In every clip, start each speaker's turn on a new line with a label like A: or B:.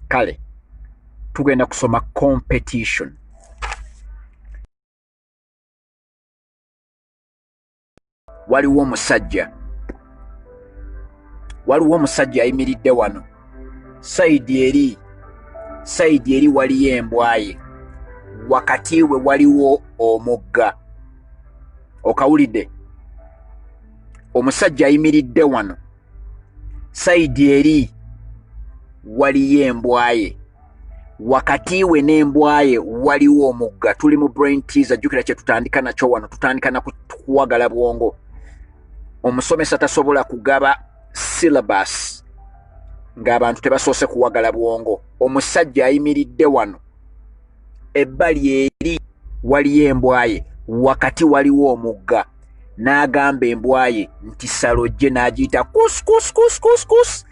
A: kale tugenda kusoma competition waliwo omusajja waliwo omusajja ayimiridde wano saidi eri saidi eri waliyo embwaye wakati we waliwo omugga okawulidde omusajja ayimiridde wano sayidi eri waliyo embwaye wakati we n'embwaye waliwo omugga tuli mu brain teaser jjukira kye tutandika nakyo wano tutandika na kuwagala bwongo omusomesa tasobola kugaba syllabus ng'abantu tebasoose kuwagala bwongo omusajja ayimiridde wano ebbali eri waliyo embwaye wakati waliwo omugga n'agamba embwa ye nti salojje n'agiyita kuskuskuskuskus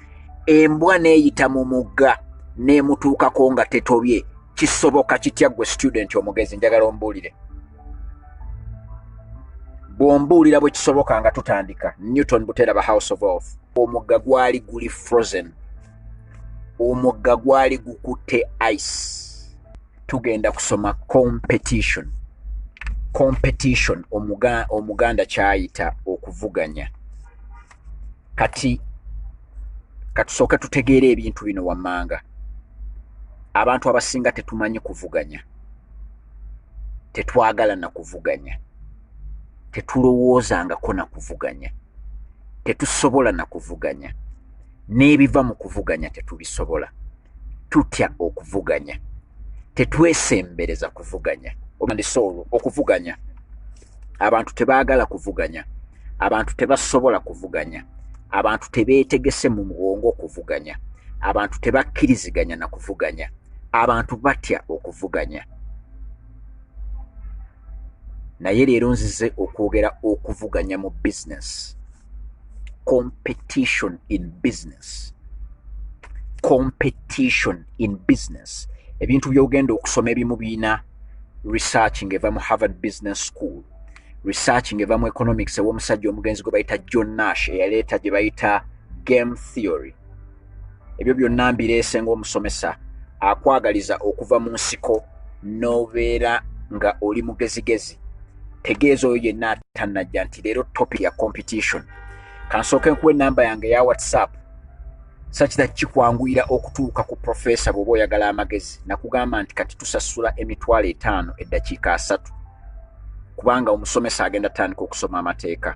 A: embwa n'eyita mu mugga n'emutuukako nga tetobye kisoboka kitya ggwe student omugezi njagala ombuulire bw'ombuulira bwe kisoboka nga tutandika newton buteraba house of of omugga gwali guli frozen omugga gwali gukutte ice tugenda kusoma competition competition omuga, omuganda kyayita okuvuganya kati katusooke tutegeera ebintu bino wammanga abantu abasinga tetumanyi kuvuganya tetwagala na kuvuganya tetulowoozangako na kuvuganya tetusobola na kuvuganya n'ebiva mu kuvuganya tetubisobola tutya okuvuganya tetwesembereza kuvuganya obandisa olwo okuvuganya abantu tebaagala kuvuganya abantu tebasobola kuvuganya abantu tebeetegese mu muwongo okuvuganya abantu tebakkiriziganya na kuvuganya abantu batya okuvuganya naye leero nzize okwogera okuvuganya mu bizinesi competition in business competition in business ebintu byogenda okusoma ebimu birina research ngeva mu harvard business school research ngeva mu economics ewomusajja omugenzi gwe bayita john nash eyaleeta gye bayita game theory ebyo byonna mbireese ng'omusomesa akwagaliza okuva mu nsiko n'obeera nga oli mugezigezi tegeeza oyo yenna atannajja nti leero topi ya competition kansooke nkuwa enamba yange ya whatsapp sakita kikwanguyira okutuuka ku profesa bw'oba oyagala amagezi nakugamba nti kati tusasula emitwalo etaano eddakiika asatu kubanga omusomesa agenda tandika okusoma amateeka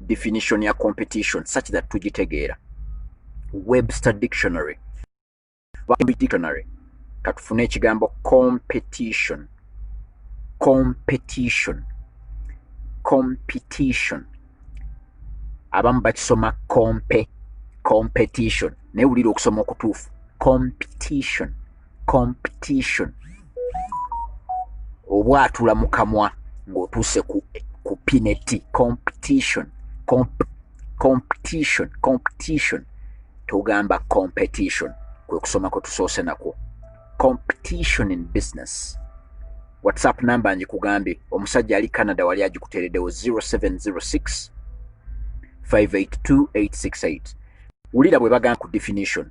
A: definition ya competition such that tugitegeera webster dictionary dictionary katufune ekigambo competition competition competition abamu bakisoma compe competition naye wulira okusoma okutuufu competition competition obwatula mu kamwa ng'otuuse ku, ku pineti competition Comp competition competition tugamba competition kwe kusoma kwe tusoose nakwo competition in business whatsapp number njikugambye omusajja ali canada wali agikuteereddewo 0706 582868 wulira bwe bagamba ku definition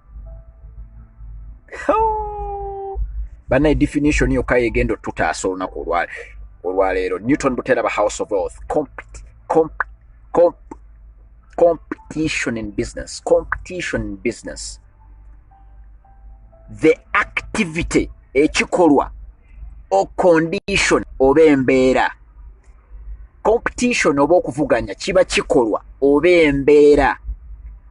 A: banaye definition yokka yegenda otutaasa olunaku olwaleero newton buteraba house of wealth compete compete compete competition in business competition in business the activity ekikolwa o condition oba embeera competition oba okuvuganya kiba kikolwa oba embeera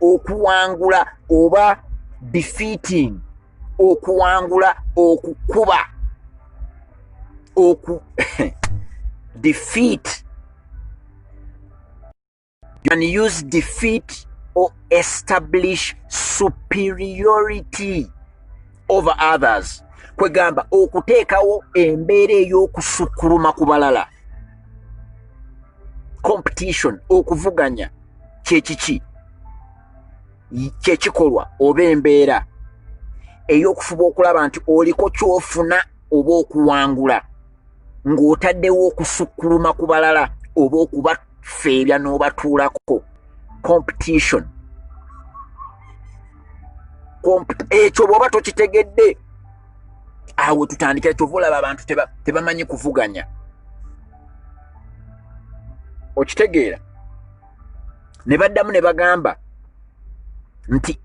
A: okuwangula oba defeating okuwangula okukuba oku defeat you can use defeat or establish superiority over others kwegamba okuteekawo embeera ey'okusukkuluma ku balala competition okuvuganya kyekiki kyekikolwa oba embeera ey'okufuba okulaba nti oliko kyofuna oba okuwangula ng'otaddewo okusukkuluma ku balala oba okubafeebya n'obatuulako competition ekyo bw'oba tokitegedde awo tutandikira kyova olaba abantu tebamanyi kuvuganya okitegeera ne baddamu ne bagamba nti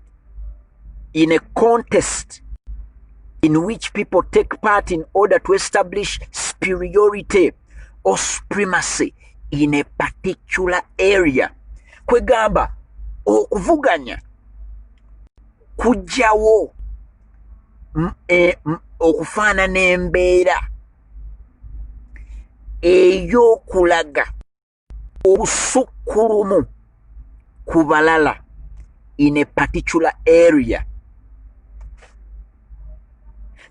A: in a contest in which people take part in order to establish superiority or supremacy in a particular area kwegamba okuvuganya kujjawo e, okufaanana embeera ey'okulaga obusukkulumu ku balala in a particular area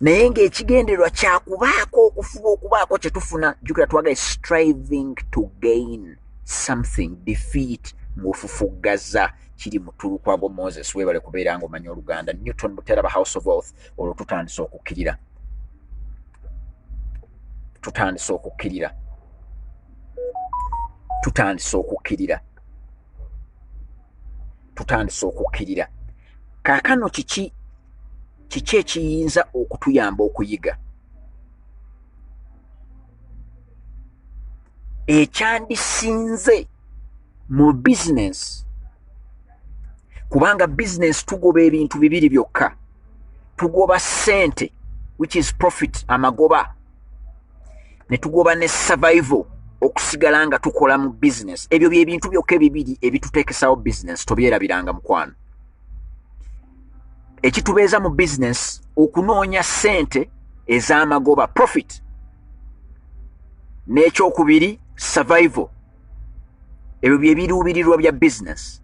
A: naye ng'ekigendererwa kyakubaako okufuba okubaako kye tufuna jukira twagale striving to gain something defeat ng'ofufuggaza kiri mutulukwago moses webale kubeera ng'omanya oluganda newton buteraba house of wealth olwo tutandise okukkirira tutandise okukkirira tutandise okukkirira tutandise okukkirira kaakano kiki kiki ekiyinza okutuyamba okuyiga ekyandisinze mu bizinensi kubanga bizinensi tugoba ebintu bibiri byokka tugoba sente which is profit amagoba ne tugoba ne survival okusigala nga tukola mu business ebyo byebintu byokka ebibiri ebitutekesawo business tobyerabiranga mukwano ekitubeeza mu business okunoonya sente ez'amagoba profit n'ekyokubiri survival ebyo byebiruubirirwa bya business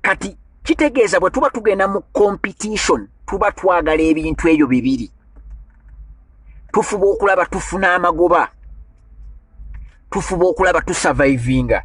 A: kati kitegeeza bwe tuba tugenda mu competition tuba twagala ebintu ebyo bibiri tufuba okulaba tufuna amagoba tufuba okulaba tusavaivinga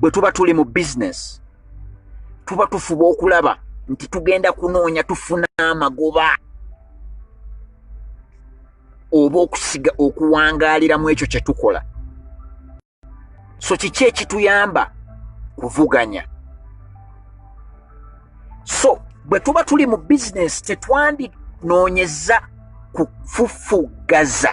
A: bwe tuba tuli mu bizinesi tuba tufuba okulaba nti tugenda kunoonya tufuna amagoba oba okusiga okuwangaaliramu ekyo kye tukola so kiki ekituyamba kuvuganya so bwe tuba tuli mu bizinesi tetwandinoonyeza kufufuggaza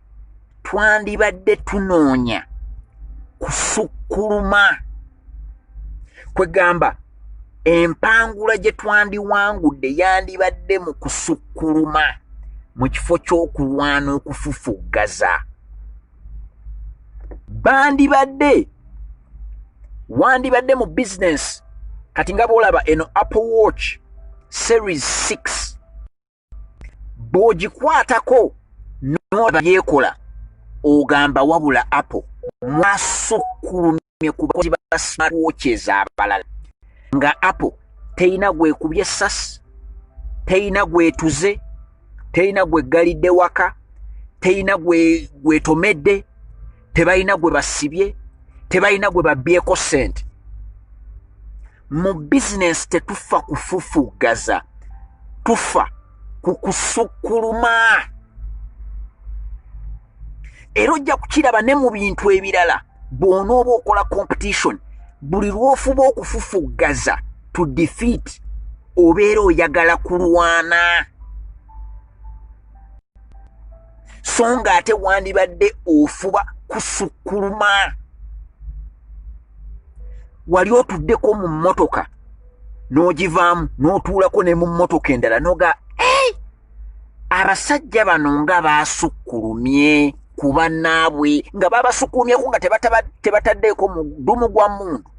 A: twandibadde tunoonya kusukkuluma kwegamba empangula gye twandiwangudde yandibadde mu kusukkuluma mu kifo ky'okulwana okufufuggaza bandibadde wandibadde mu bizinensi kati nga bwolaba eno apple watch series 6 bw'ogikwatako n'olaba byekola ogamba wabula apple mwasukkulumye ku bakozi ba smart watches abalala nga apple teyina gwekubye essasi teyina gwetuze teyina gweggalidde waka teyina gwetomedde gwe tebalina gwe basibye tebalina gwe babyeko sente mu bizinensi tetufa kufufugaza tufa ku kusukkuluma era ojja kukiraba ne mu bintu ebirala bw'onooba okola competition buli lw'ofuba okufufuggaza to defeat obeera oyagala kulwana so nga ate wandibadde ofuba kusukkuluma wali otuddeko mu mmotoka n'ogivaamu n'otuulako ne mu mmotoka endala noga ei abasajja bano nga baasukkulumye ku bannaabwe nga babasukkulumyeko nga tebataddeeko mudumu gwa mundu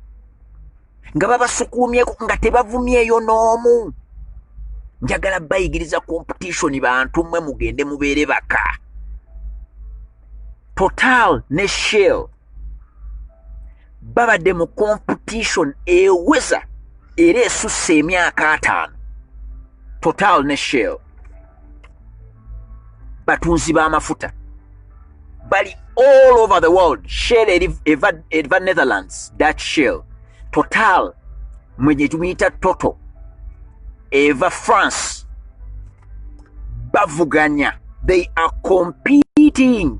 A: nga babasukuumyeko nga tebavumyeeyo n'omu njagala bayigiriza competition bantu mmwe mugende mubeere baka total ne shell babadde mu competition eweza era esusse emyaka ataano total ne shell batunzi b'amafuta bali all over the world shell eva netherlands dutch shell total mwe gye tumuyita toto eva france bavuganya they are competing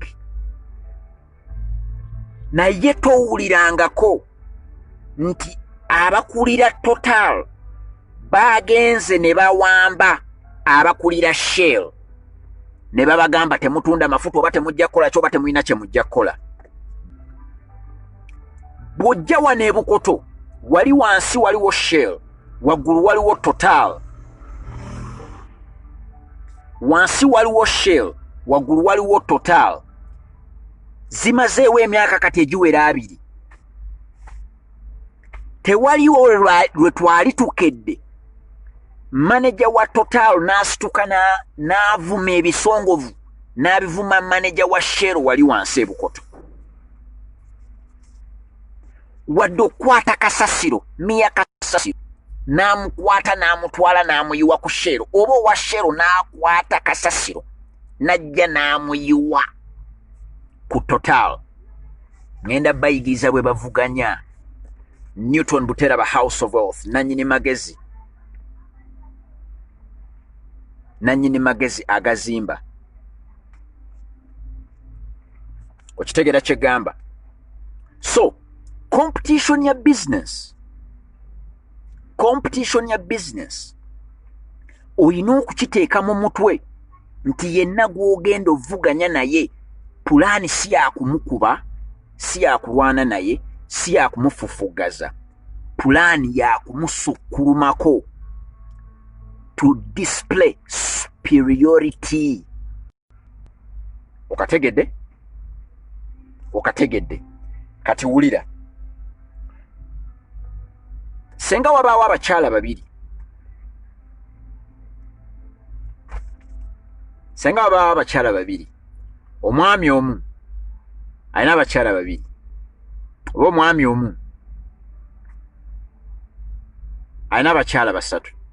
A: naye towulirangako nti abakulira total baagenze ne bawamba abakulira shell ne babagamba temutunda mafuta oba temujja kukola kyoba temulina kye mujja kukola bw'ojja wano ebukoto wali wansi waliwo shell waggulu waliwo total wansi waliwo shell waggulu waliwo total zimazeewo emyaka kati egiwera abiri tewaliwo lwe twali tukedde maneja wa total n'asituka n'avuma ebisongovu n'abivuma maneja wa shero wali wansi ebukoto wadde okukwata kasasiro miya kasasiro n'amukwata n'amutwala n'amuyiwa ku shero oba owa shero n'akwata kasasiro najja n'amuyiwa ku total ŋenda bayigiriza bwe bavuganya newton butera ba house of wealth nanyini magezi nanyini magezi agazimba okitegera kyegamba so competition ya business competition ya business olina okukiteeka mu mutwe nti yenna gw'ogenda ovuganya naye pulaani si yakumukuba si yakulwana naye si yakumufufugaza pulaani yakumusukkulumako to display superiority okategedde okategedde kati wulira senga wabaawo abakyala babiri senga wabaawo abakyala babiri omwami omu alina abakyala babiri oba omwami omu alina abakyala basatu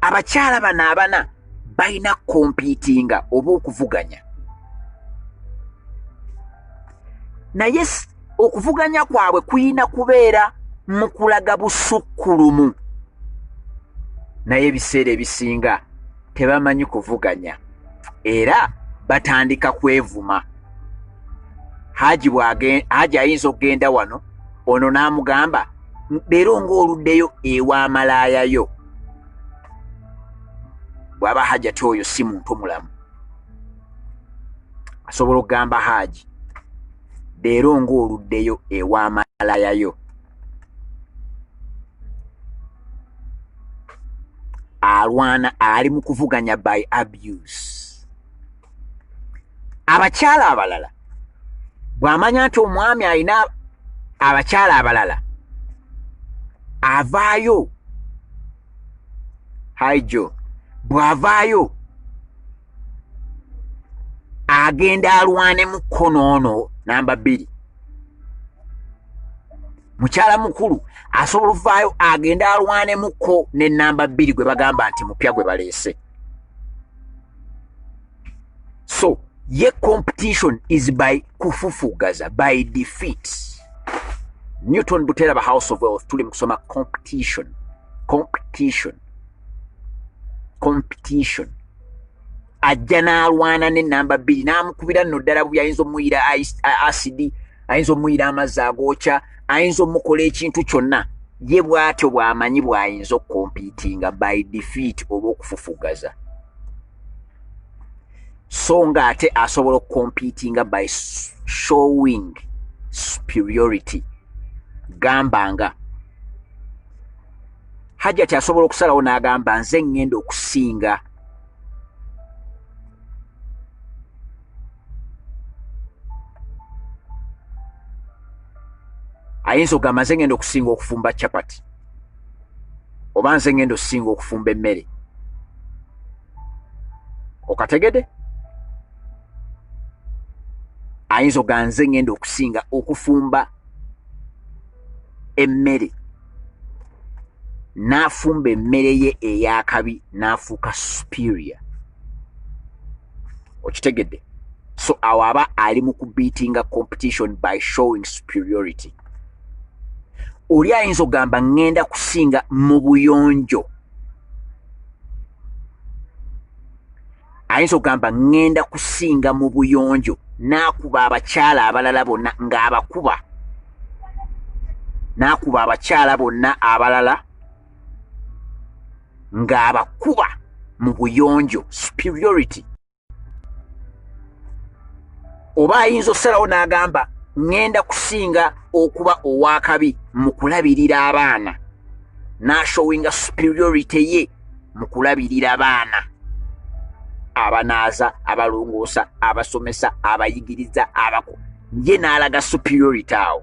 A: abakyala bano abana balina kompiitinga oba okuvuganya naye okuvuganya kwabwe kuyina kubeera mu kulaga busukkulumu naye ebiseera ebisinga tebamanyi kuvuganya era batandika kwevuma haji ayinza okugenda wano ono n'amugamba leero ng'oluddeyo ewa malaaya yo bw'aba hajati oyo si muntu mulamu asobola okugamba haaji leero ng'oluddeyo ewa malaaya yo alwana ali mu kuvuganya by abuse abakyala abalala bw'amanya nti omwami alina abakyala abalala avaayo haijo bw'avaayo agenda alwanemu kkono ono namba bbiri mukyala mukulu asobola okuvaayo agende alwanemukko ne namba bbiri gwe bagamba nti mupya gwe baleese so ye competition is by kufufugaza by defeat newton butera ba house of wealth tuli mukusoma competition competition competition ajja n'alwana ne namba bbiri n'amukubira nno ddala buyayinza omuyira acd ayinza omuyira amazzi agookya ayinza omukola ekintu kyonna ye bw'atyo bw'amanyi bw'ayinza okukompiitinga by defeat oba okufufugaza so nga ate asobola okukompiitinga by showing superiority gamba nga hajjati asobola okusalawo n'agamba nze ŋŋenda okusinga ayinza ogamba nze ngenda okusinga okufumba chapati oba nze ngenda okusinga okufumba emmere okategede ayinza oga nze ngenda okusinga okufumba emmere n'afumba emmere ye ey'akabi n'afuuka superior okitegedde so awo aba ali mu kubeatinga competition by showing superiority oli ayinza okugamba ŋŋenda kusinga mu buyonjo ayinza okugamba ŋŋenda kusinga mu buyonjo n'akuba abakyala abalala bonna ng'abakuba n'akuba abakyala bonna abalala ng'abakuba mu buyonjo superiority oba ayinza okusalawo n'agamba ŋŋenda kusinga okuba ow'akabi mu kulabirira abaana n'ashowinga superiority ye mu kulabirira baana abanaaza abalongoosa abasomesa abayigiriza abako ye n'alaga superiority awo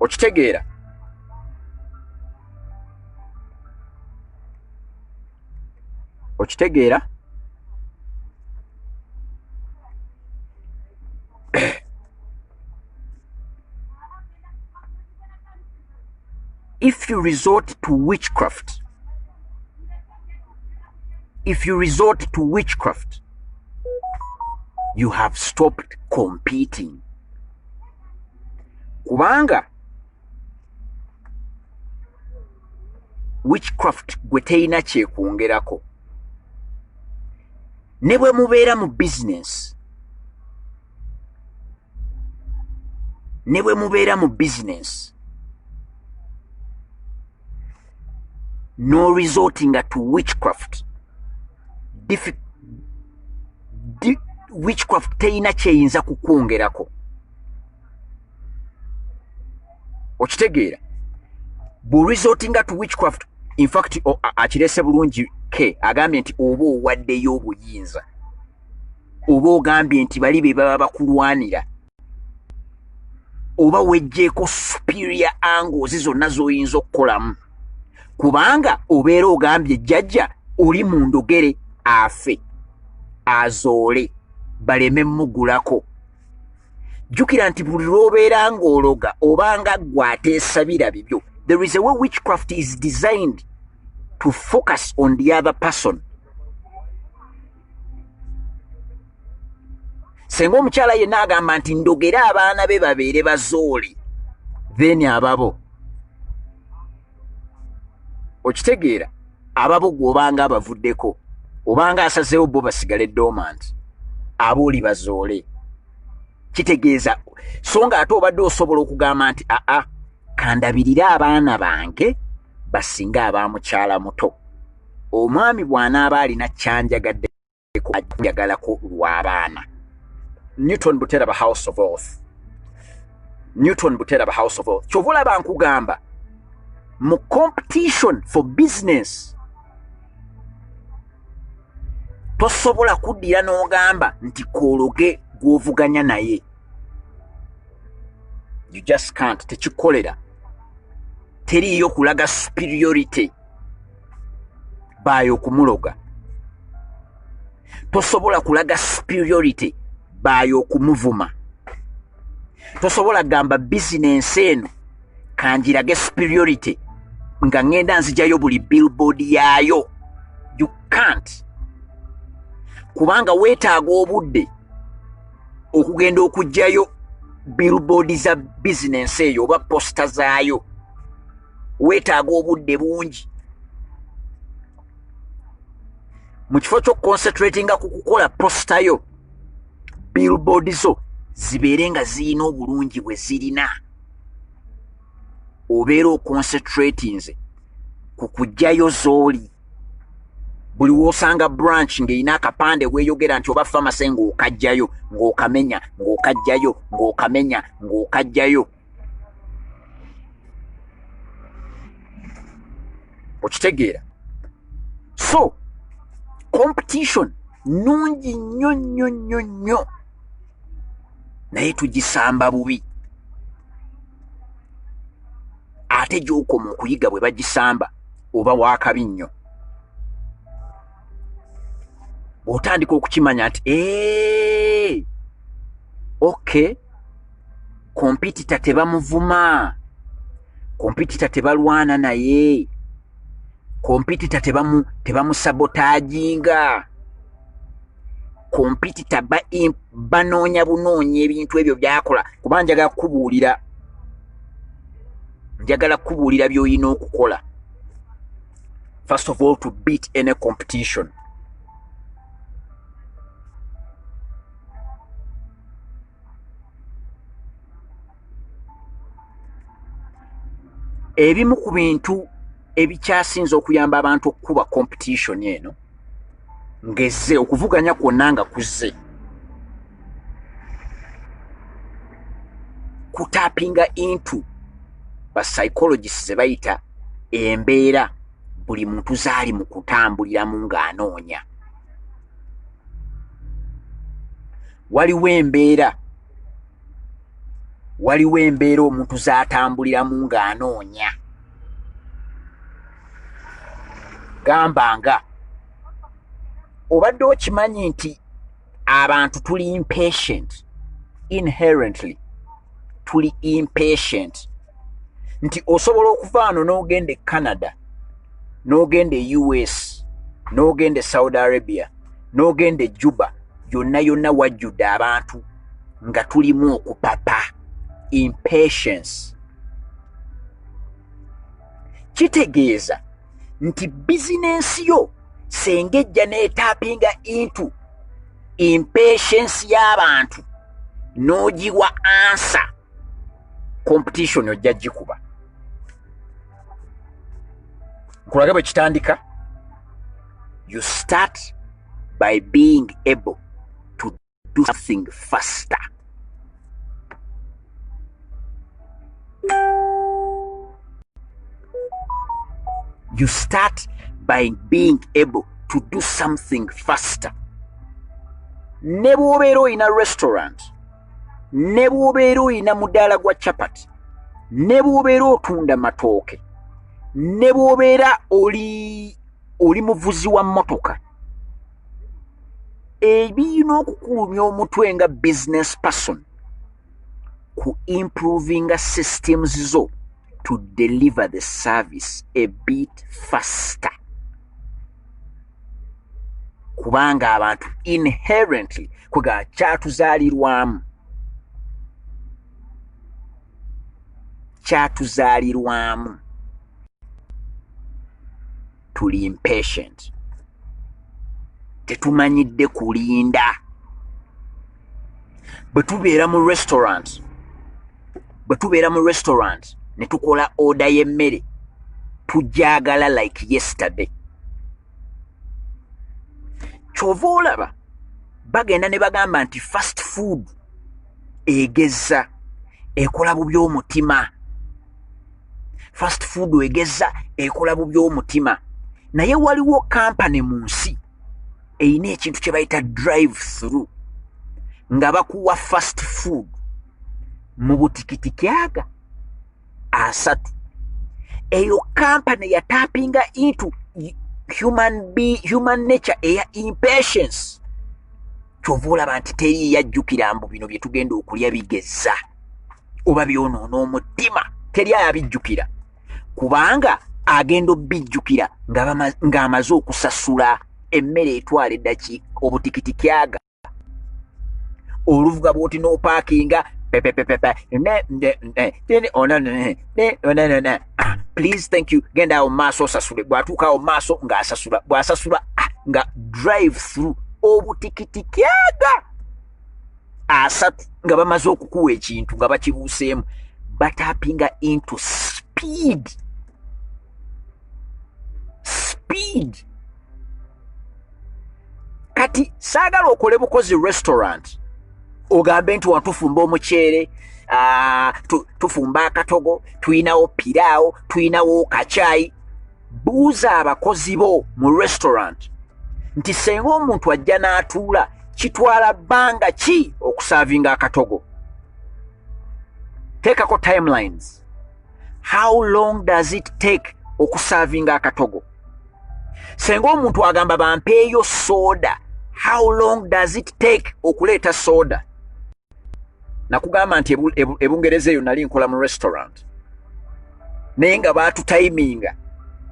A: okitegeera okitegeera if you resort to witchcraft if you resort to witchcraft you have stopped competing kubanga witchcraft gwe teyina kyekwongerako ne bwe mubeera mu bizinensi ne bwe mubeera mu bizinensi no resortinga to witchcraft witchcraft teyina kyeyinza kukwongerako okitegeera bu resortinga to witchcraft infact akirese bulungi ke agambye nti oba owaddeyo obuyinza oba ogambye nti bali be baba bakulwanira oba wejjeeko superior angles zonna z'oyinza okukolamu kubanga obeera ogambye jjajja oli mu ndogere afe azoole baleme mugulako jjukira nti buli lw'obeera ng'ologa oba nga ggwe ateesabira bibyo there is a way witchcraft is designed to focus on the other person senga omukyala yenna agamba nti ndogere abaana be babeere bazooli then ababo okitegeera ababo gwe obanga abavuddeko obanga asazeewo bo basigale domant aba oli bazoole kitegeeza so nga ate obadde osobola okugamba nti aa kandabirire abaana bange basinga aba mukyala muto omwami bw'anaaba alina kyanjagadde kujagalako lw'abaana newton buteraba house of oath newton buteraba house of oath kyova olaba nkugamba mu competition for business tosobola kuddira n'ogamba nti koologe gw'ovuganya naye you just can't tekikolera teriiyo kulaga superiority by okumuloga tosobola kulaga superiority by okumuvuma tosobola gamba bizinensi eno kanjirage superiority nga ŋŋenda nzijayo buli billboard yaayo you can't kubanga weetaaga obudde okugenda okugjayo billboard za bizinensi eyo oba posita zaayo weetaaga obudde bungi mu kifo ky'okukonsetratinga ku kukola posita yo billboard zo zibeere nga zirina obulungi bwe zirina obeera okonsetratinze ku kujjayo zooli buli wosanga branch ng'erina akapande weeyogera nti oba famase ng'okajjayo ng'okamenya ng'okajjayo ng'okamenya ng'okajjayo okitegeera so competition nungi nnyo nnyo nnyo nnyo naye tugisamba bubi ate gyokoma okuyiga bwe bagisamba oba wakabi nnyo bw'otandika okukimanya nti ee okay kompitita tebamuvuma kompitita tebalwana naye kompitita tebamusabotaginga tebamu kompitita banoonya bunoonya ebintu ebyo byakola kuba njagala kukubuulira njagala kukubuulira byolina okukola first of all to beat any competition ebimu ku bintu ebikyasinze okuyamba abantu okukuba competition eno ngezze okuvuganya kwonna nga kuzze kutapinga into ba psychologist ze bayita embeera buli muntu zaali mu kutambuliramu ng'anoonya waliwo embeera waliwo embeera omuntu zatambuliramu ng'anoonya gamba nga obadde okimanyi nti abantu tuli impatient inherently tuli impatient nti osobola okuva ano n'ogenda e canada n'ogenda e us n'ogenda e saudi arabia n'ogenda ejuba yonna yonna wajjudde abantu nga tulimu okupapa impatience kitegeeza nti bizinensi yo senga ejja n'etapinga intu impatience y'abantu n'ogiwa ansa competition ojja gikuba nkulage bwe kitandika you start by being able to do something faster you start by being able to do something faster ne bw'obeera olina restaurant ne bw'obeera olina mudaala gwa chapati ne bw'obeera otunda matooke ne bw'obeera oli oli muvuzi wa mmotoka ebiyina okukulumya omutwe nga business person ku improvinga systems zo to deliver the service a bit faster kubanga abantu inherently kwega kyatuzaalirwamu kyatuzaalirwamu tuli impatient tetumanyidde kulinda bwe tubeera mu restaurant bwe tubeera mu restaurant ne tukola oda y'emmere tujagala like yesterday kyova olaba bagenda ne bagamba nti fast food egeza ekola bubi omutima fast food egeza ekola bubi omutima naye waliwo kampany mu nsi erina ekintu kye bayita drive through nga bakuwa fast food mu butikitiki aga asatu eyo kampani yatapinga into human, be, human nature eya impatience kyova olaba nti teri yajjukira mbu bino bye tugenda okulya bigeza oba byonoona omutima teri ayabijjukira kubanga agenda obijjukira ng'amaze okusasula emmere etwala eddaki obutikitiki aga oluvuga bwoti nopakinga please thank you genda awo maaso osasule bwatuuka awo maaso ngaasasula bwasasula ah, nga drive through obutikitikiaga asatu nga bamaze okukuwa ekintu nga bakibuuseemu batapinga into speed speed kati saagala okole bukozi restaurant ogambe nti watufumba omuceere ah, tufumba akatogo tulinawo piraawo tulinawo kacaayi buuza abakozi bo mu restaurant nti senga omuntu ajja n'atuula kitwala bbanga ki okusaavinga akatogo teekako timelines how long does it take okusavinga akatogo senga omuntu agamba bampeeyo soda how long does it take okuleeta soda nakugamba nti ebungereza eyo nali nkola mu restaurant naye nga batutayiminga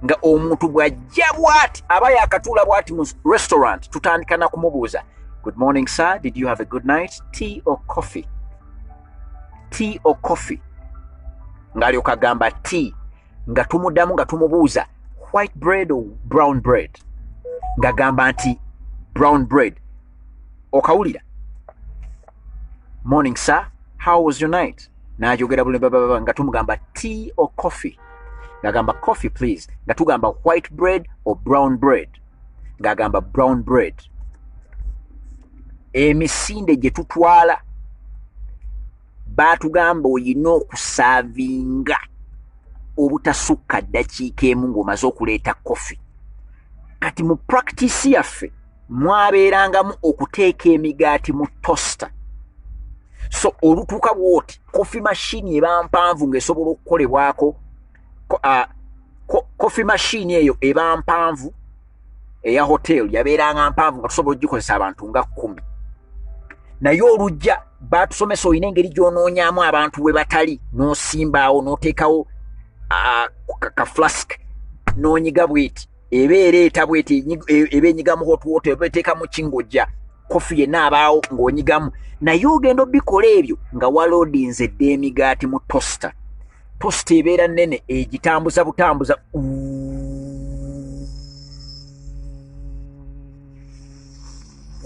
A: nga omuntu bwajja bwati aba yakatuula bwati mu restaurant tutandika nakumubuuza good morning sir did you have a good night tea or coffee tea or coffee ng'alyoka agamba tea nga tumudamu nga tumubuuza white bread or brown bread ng'agamba nti brown bread okawulira morning sir how was your night n'ajogera buli bababa nga tumugamba tea or coffee ng'agamba coffee please nga tugamba white bread or brown bread ng'agamba brown bread emisinde gye tutwala baatugamba olina okusaavinga obutasukka ddakiika emu ng'omaze okuleeta kofi kati mu practice yaffe mwabeerangamu okuteeka emigaati mu tosta so olutuuka bwoti kofi mashini eba mpanvu ng'esobola okukolebwako kofi mashini eyo eba mpanvu eya hoteli yabeeranga mpanvu nga tusobola ogikozesa abantu nga kkumi naye olujja batusomesa olina engeri gyonoonyamu abantu we batali n'osimbaawo n'oteekawo ka flask n'onyiga bweti eba ereeta bweti e, eba enyigamu hot water eba eteeka mu kingojja kofi yenna abaawo ng'onyigamu naye ogenda obikola ebyo nga waloodinze dda emigaati mu tosta tosta ebeera nnene egitambuza butambuza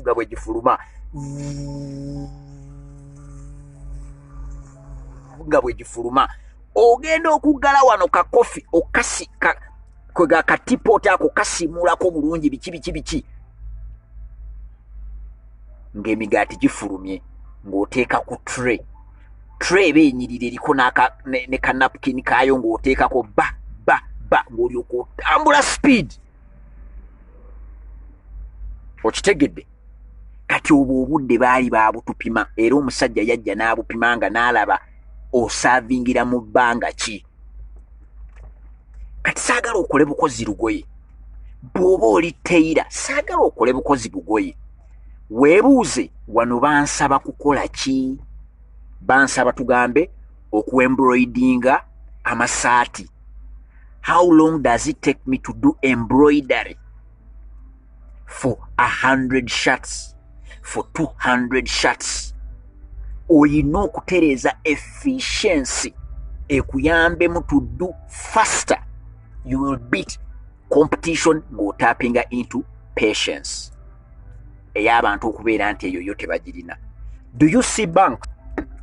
A: nga bwe gifuluma nga bwe gifuluma ogenda okuggala wano kakofi okasi kwega katipoota ako kasimuulako bulungi biki biki biki ng'emigaati gifulumye ng'oteeka ku tre tre eba enyirira eriko ne kanapukini kaayo ng'oteekako ba ba ba ng'olyoka otambula sipiidi okitegedde kati obwo obudde baali baabutupima era omusajja yajja n'abupima nga n'alaba osaavingira mu bbanga ki kati saagala okole bukozi lugoye bw'oba oli teyira saagala okole bukozi bugoye weebuuze wano bansaba kukola ki bansaba tugambe okuembroidinga amasaati how long does it take me to do embroidery for a hundred shots for two hundred shots olina okutereeza efficiency ekuyambemu to do faster you will beat competition ng'otappinga into patience ey'abantu okubeera nti eyo yo tebagirina do you see bank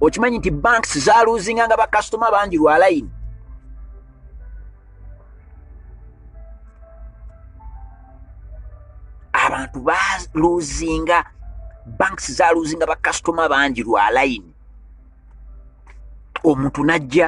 A: okimanyi nti banks zaluzinga nga bakasitoma bangi lwa layini abantu baluzinga banks zaluzinga bakasitoma bangi lwa layini omuntu najja